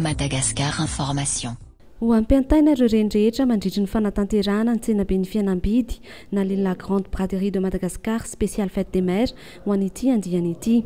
Madagascar Information. Ho ampiantaina ireo reny rehetra mandritry ny fanatanterahana ny tsenaben'ny fihenam-bidy nalehan'ny La Grande Braderie de Madagascar Spéciale Fête des Mères ho an'ity andiany ity.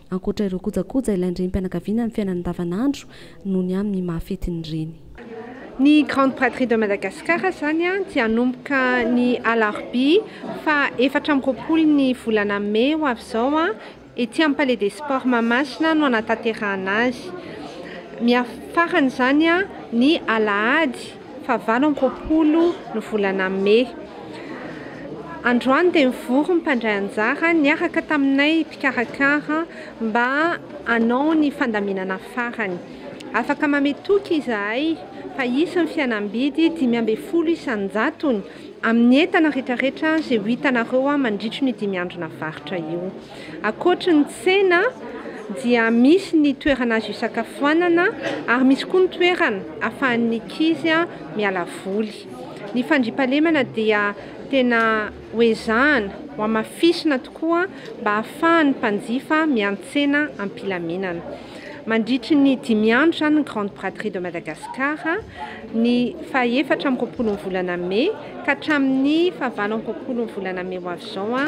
Ankoatra ireo kojakoja ilain-drenim-pianakaviana amin'ny fiainana andavanandro noho ny amin'ny maha fetin'ny reny. Ny Grande Braderie de Madagascar izany dia hanomboka ny alarobia faha efatra amby roapolo ny volana mey ho avy izao ety amin'ny Palais des Sports Mahamasina no hanatanterahana azy. Miafara faran'izany ny alahady. faha valo amby roapolo ny volana mey. Androany dia nivory ny mpandray anjara niaraka taminay mpikarakara mba hanao ny fandaminana farany. Afaka mamehy toky izahay fa hisy ny fihenam-bidy dimy ambin'ny folo isan-jatony amin'ny entana rehetrarehetra izay ho hitanareo mandritry ny dimy andro navaritra io. Ankoatry ny tsena dia misy ny toerana azo hisakafoanana ary misy koa ny toerana ahafahan'ny ankizy miala voly. Ny fandriampahalemana dia tena hoezahana, hohamafisina tokoa mba hahafahan'ny mpanjifa miantsena am-pilaminana. Mandritry ny dimy andro izany ny Grande Braderie de Madagascar, ny faha-efatra amby roapolon'ny volana mey ka hatramin'ny fahavalo amby roapolon'ny volana mey ho avy izao.